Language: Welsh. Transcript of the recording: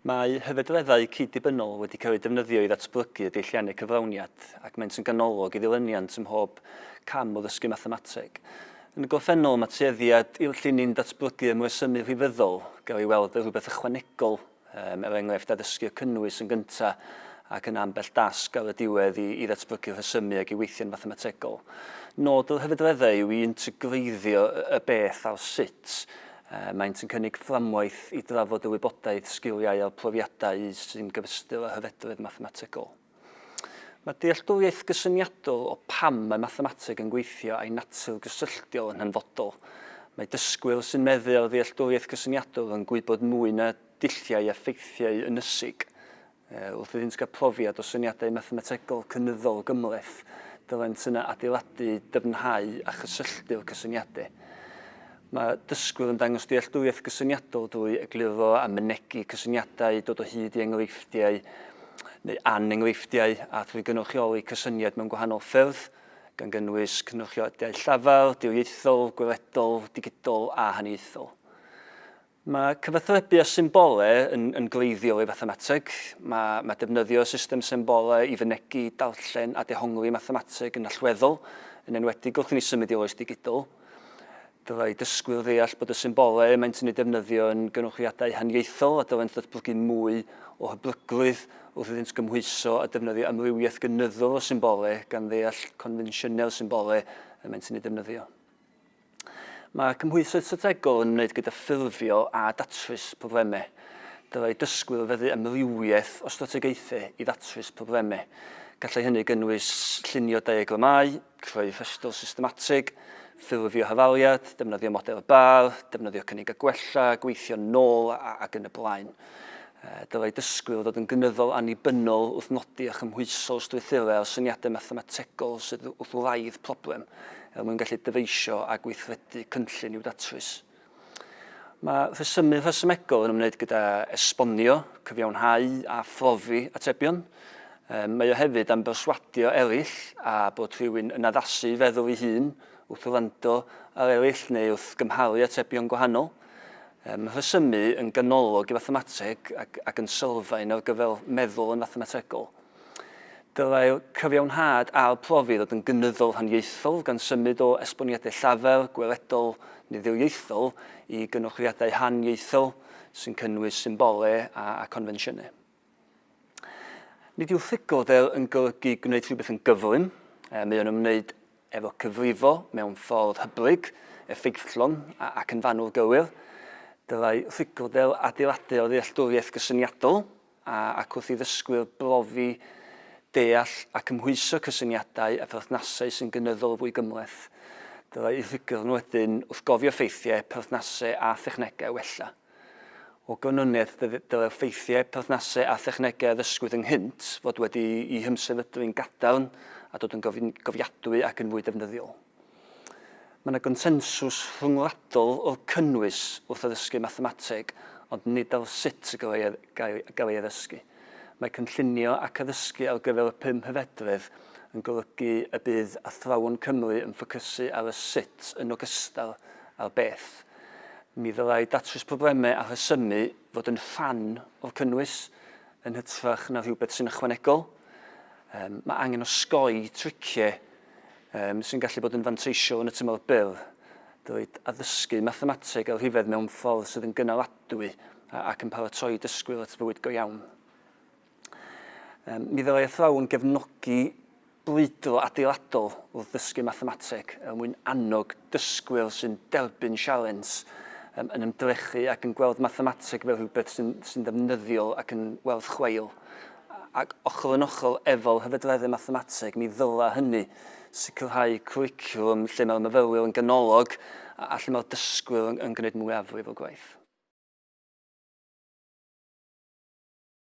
Mae hyfedreddau cyd-dibynnol wedi cael eu defnyddio i ddatblygu y deilliannau cyflawniad ac maent yn ganolog i ddilyniant ym mhob cam o ddysgu mathemateg. Yn y gorffennol, mae tueddiad i'w llinyn datblygu ymresymu rhifyddol, gael ei weld fel rhywbeth ychwanegol Yym, er enghraifft, addysgu'r cynnwys yn gyntaf ac yna ambell dasg ar y diwedd i, i ddatblygu rhesymu ac i weithio'n fathemategol. Nod yr hyfedreddau yw i integreiddio y beth a'r sut. Yy, maent yn cynnig fframwaith i drafod y wybodaeth, sgiliau a'r profiadau sy'n gyfystyr â hyfedredd mathemategol. Mae dealltwriaeth gysyniadol o pam mae mathemateg yn gweithio a'i natur gysylltiol yn hanfodol. Mae dysgwyr sy'n meddu ar ddealltwriaeth gysyniadol yn gwybod mwy na dulliau a ffeithiau ynysig. Wrth iddynt gael profiad o syniadau mathemategol cynyddol gymhleth, dylent yna adeiladu, dyfnhau a chysylltu'r cysyniadau. Mae dysgwyr yn dangos dealltwriaeth gysyniadol drwy egluro a mynegi cysyniadau, dod o hyd i enghreifftiau neu anenghreifftiau, a thrwy gynrychioli cysyniad mewn gwahanol ffyrdd, gan gynnwys cynrychioliadau llafar, diriaethol, gweledol, digidol a haniaethol. Mae cyfathrebu â symbolau yn, yn gleifiol i fathemateg. Mae, mae defnyddio system symbolau i fynegi, darllen a dehongli mathemateg yn allweddol, yn enwedig wrth i ni symud i'r oes digidol. Dylai dysgwyr ddeall bod y symbolau maent yn eu defnyddio yn gynhyrchiadau haniaethol a dylent ddatblygu mwy o hyblygrwydd wrth iddynt gymhwyso a defnyddio amrywiaeth gynyddol o symbolau gan ddeall confensiynau'r symbolau y maent yn eu defnyddio. Mae cymhwysoedd strategol yn ymwneud gyda ffurfio a datrys problemau. Dylai dysgwyr feddu amrywiaeth o strategaethau i ddatrys problemau. Gallai hynny gynnwys llunio diagramau, creu rhestr systematig, ffurfio hafaliad, defnyddio model Barr, defnyddio cynnig a gwella, gweithio'n nôl ac yn y blaen. Dylai dysgwyr ddod yn gynyddol annibynnol wrth nodi a chymhwyso strwythurau o syniadau mathemategol sydd wrth wraidd problem er mwyn gallu dyfeisio a gweithredu cynllun i'w datrys. Mae rhesymu rhesymegol yn ymwneud gyda esbonio, cyfiawnhau a phrofi atebion. Mae o hefyd am berswadio eraill a bod rhywun yn addasu i feddwl ei hun wrth wrando ar eraill neu wrth gymharu atebion gwahanol. ymrhesymu yn ganolog i fathemateg ac, ac yn sylfaen ar gyfer meddwl yn fathemategol. Dylai'r cyfiawnhad a'r profi ddod yn gynyddol rhaniaethol gan symud o esboniadau llafar, gweledol neu ddirieithol i gynorthwiadau rhaniaethol sy'n cynnwys symbolau a, a confensiynau. Nid yw ffugurdel yn golygu gwneud rhywbeth yn gyflym, e, mae o'n ymwneud efo cyfrifo mewn ffordd hyblyg, effeithlon ac yn fanwl gywir. Dylai ffugurdel adeiladu ar ddealltwriaeth gysyniadol a, ac wrth i ddysgwyr brofi deall a cymhwyso cysyniadau a pherthnasau sy'n gynyddol fwy gymhleth, dylai eu ffugurn wedyn wrth gofio ffeithiau, perthnasau a thechnegau wella. O ganlyniad, dylai'r ffeithiau, perthnasau a thechnegau a ddysgwyd ynghynt fod wedi'u hymsefydlu'n gadarn a dod yn gofiadwy ac yn fwy defnyddiol. Mae yna gonsensws rhyngwladol o'r cynnwys wrth addysgu mathemateg, ond nid ar sut y gallai ei addysgu. Mae cynllunio ac addysgu ar gyfer y pum hyfedredd yn golygu y bydd athrawon Cymru yn ffocysu ar y sut yn ogystal â'r beth. Mi ddylai datrys problemau a rhesymu fod yn rhan o'r cynnwys yn hytrach na rhywbeth sy'n ychwanegol. Mae angen osgoi triciau sy'n gallu bod yn fanteisiol yn y tymor byr, dylid addysgu mathemateg a rhifedd mewn ffordd sydd yn gynaladwy ac yn paratoi dysgwyr at fywyd go iawn. Um, mi ddylai athrawon gefnogi brwydro adeiladol wrth ddysgu mathemateg er mwyn annog dysgwyr sy'n derbyn sialens um, yn ymdrechu ac yn gweld mathemateg fel rhywbeth sy'n sy ddefnyddiol ac yn werth chweil. Ac ochr yn ochr efo'r hyfedreddau mathemateg, mi ddyla hynny sicrhau cwricwlwm lle mae'r myfyrwyr yn ganolog a, a lle mae'r dysgwyr yn, yn gwneud mwyafrif o gwaith.